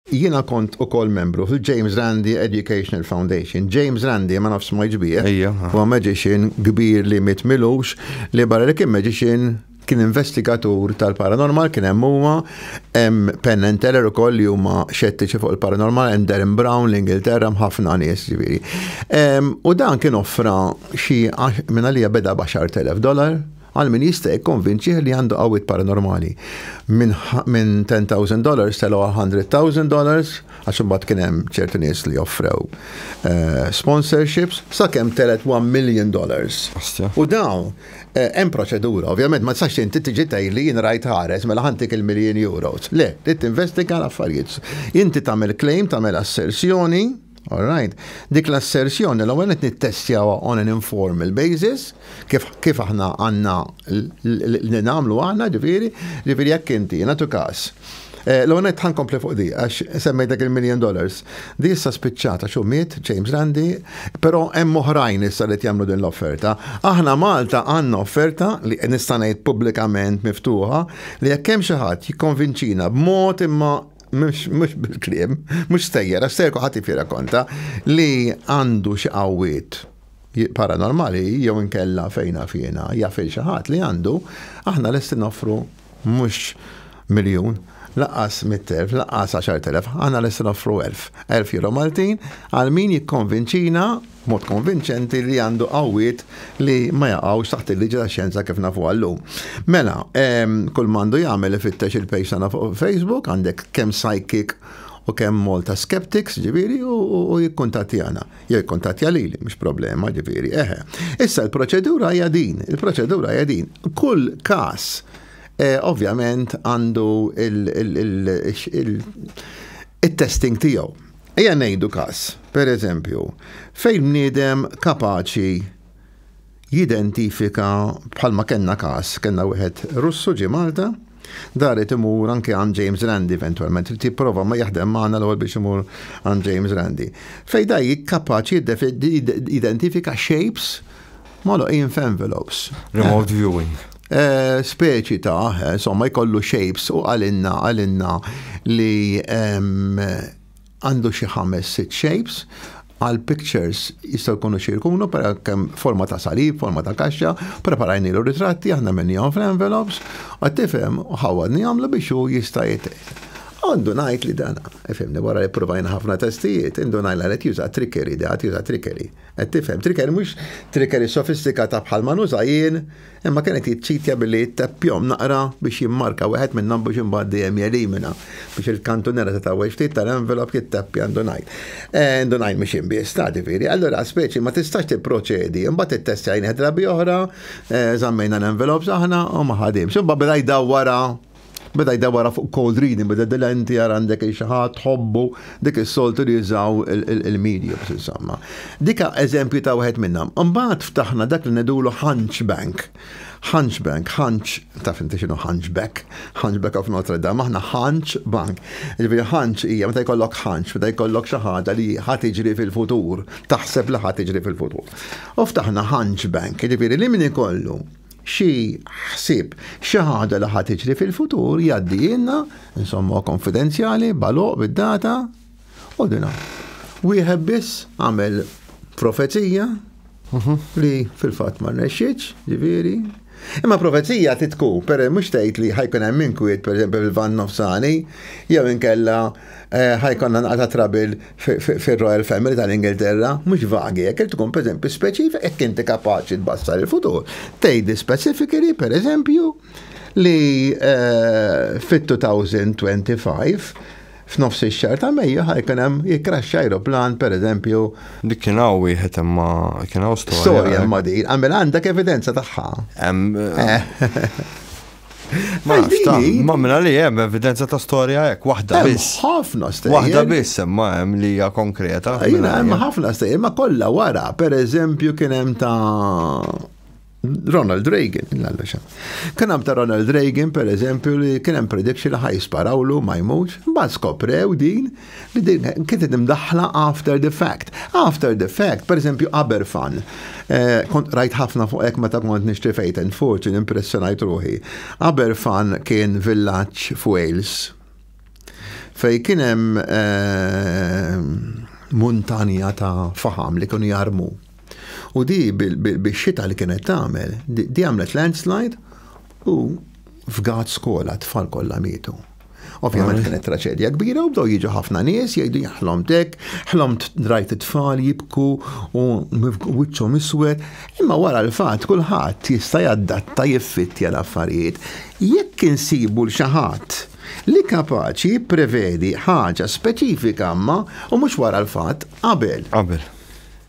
Jiena kont ukoll membru fil-James Randi Educational Foundation. James Randi, ma nafx smajtx bih, huwa magician kbir li miet m'ilux, li barra li kien magician, kien investigatur tal-paranormal, kien hemm huwa, hemm Penn and Teller ukoll li huma xettiċi fuq il-paranormal, hemm Derren Brown, l-Ingilterra, hemm ħafna nies, ġifieri. U dan kien offra xi, minn għalija beda b'għaxart elef dollar, Għal min jista' jikkonvinċih li għandu qawwiet paranormali. Minn minn ten thousand dollars telgħu għal hundred thousand dollars għax imbagħad kien hemm ċertu nies li offrew sponsorships sakemm telgħet one million dollars. U dawn hemm proċedura. Ovvjament ma tistax inti tiġi tgħidli jien rajt ħares mela ħa ntik il-miljin euros. Le, trid tinvestiga l-affarijiet. Inti tagħmel claim, tagħmel assersjoni. All right. Dik l-assersjoni l-ewwel qed nittestjawha on an informal basis, kif kif aħna għandna li nagħmlu aħna ġifieri, ġifieri jekk inti nagħtu każ. Eh, l-ewwel qed ħankompli fuq di għax semmejtek il-million dollars. Di issa spiċċata xu miet James Randi, però hemm oħrajn issa li jagħmlu din l-offerta. Aħna Malta għandna offerta li nista' ngħid pubblikament miftuħa li jekk hemm xi ħadd jikkonvinċina b'mod imma mux bil-krim, mux stejjera, stejjer kuħat jifira konta li għandu xi qawwiet paranormali jew inkella fejna fjena jafil xi ħadd li għandu, aħna lesti noffru mhux miljun, laqas 100.000, laqas 10.000, għana l-essin offru 1000. 1000 euro Maltin għal min jikkonvinċina b'mod konvinċenti li għandu qawwiet li ma jaqgħux taħt il-liġi tax-xjenza kif nafuha llum. Mela, ehm, kull m'għandu jagħmel ifittex il-page tagħna fuq Facebook, għandek kemm psychic u kemm Malta Skeptics, ġifieri, u jikkuntattjana. Jew jikkuntattja lili, mhux problema, ġifieri, eħe. Issa l-proċedura hija din, il-proċedura hija din. Kull każ eh, ovvjament għandu il-testing tiegħu. Ejja ngħidu każ, per eżempju, fejn bniedem kapaċi jidentifika bħalma kellna każ, kellna wieħed Russu ġie Malta, daret imur anke għand James Randi eventwalment, li tipprova ma jaħdem magħna l-ewwel biex imur għand James Randi. Fejn da kapaċi jidentifika shapes Moloqin f'envelopes. Remote viewing. Eh, speċi ta', eh, insomma, jkollu shapes u għalinna, għalinna li ehm, għandu xi ħames sit shapes għal pictures jistaw kunu xirkunu per kem forma ta' salib, forma ta' kaxxa, preparajni l ritratti aħna menni għom fl-envelopes, għattifem ħawadni għamlu biex u jista' jitqed. Għandu najt li dana, efemni wara li provajna ħafna testijiet, għandu najla li t-juża trickery, da t-juża trickery. Qed tifhem, trickery mhux trickery sofistikata bħal ma nuża jien, imma kien qed jiċċitja billi jitteppjahom naqra biex jimmarka wieħed minnhom biex imbagħad dejjem jelimina biex il-kantunera ta' tagħweġ ftit tal-envelop jitteppja indunajl. Eh, indunajl mhux jien biss, ta' ġifieri. Allura speċi ma tistax tipproċedi, imbagħad ittestjajnih drabi oħra, eh, żammejna l-envelops aħna u ma ħadimx. Imbagħad beda jdawwara Beda jda wara fuq cold reading, beda dilenti għar għandek il-xaħat, ħobbu, dik il-soltu li jizaw il-media, bis insomma. Dika eżempju ta' wieħed minnam. Mbaħt ftaħna dak li nedulu Hunchbank. Hunchbank, Hunch, taf inti xinu Hunchback, Hunchback of Notre Dame, aħna Hunch Bank. Ġifiri Hunch hija meta jkollok Hunch, meta jkollok xi ħaġa li ħadd iġri fil-futur, taħseb li ħadd iġri fil-futur. U ftaħna Hunchbank, ġifiri li min ikollu xi ħsieb, xi ħaġa li ħa tiġri fil-futur jgħaddijilna, insomma konfidenzjali, baloq bid-data, u dina. Wieħed biss għamel profezija mhm. li fil-fatt ma rnexxitx, ġifieri. Imma profezija titku, per mhux tgħid li ħajkun hemm inkwiet, pereżempju fil-van nofsani, jew inkella Eh, ħajkonna naqta trabil fil-Royal Family tal-Ingilterra, mux vagi, jek tkun per eżempju speċifik, jek inti kapaċi tbassar il-futur. Tejdi specifically, per eżempju, li eh, fit-2025 f'nofs ix-xar ta' Mejju ħajkun hemm jikraxxa aeroplan pereżempju. Dik kien hawn wieħed imma kien hawn storja. Storja eh. ma' din, għamel għandek evidenza tagħha. Eh. Ma nafx ta' ma minna li hemm evidenza ta' storja hekk waħda biss. Ħafna stejjer. Waħda biss imma hemm li hija konkreta. Jiena hemm ħafna stejjer ma kollha wara, pereżempju kien hemm ta' Ronald Reagan, l-għallexa. Kien hemm ta' Ronald Reagan, per eżempju, li kien hemm prediction li ħaj sparawlu ma jmux, mbagħad skoprew din li din kienet imdaħħla after the fact. After the fact, per eżempju, Aberfan. Eh, kont rajt ħafna fuq hekk meta kont nixtri fejt and fortune impressjonajt ruħi. Aberfan kien villaġġ f'Wales fej kien hemm eh, muntanja ta' faham li kienu jarmu. U di bix-xita li kienet tagħmel, di għamlet landslide u f'gat skola tfal kollha mietu. Ovvjament kienet traċedja kbira u bdew jiġu ħafna nies jgħidu jaħlom dek, ħlomt drajt it-tfal jibku u wiċċhom iswed, imma wara l-fatt kulħadd jista' jaddatta jiffittja l-affarijiet. Jekk insibu l xi ħadd li kapaċi jipprevedi ħaġa speċifika ma u mhux wara l-fatt qabel. Qabel.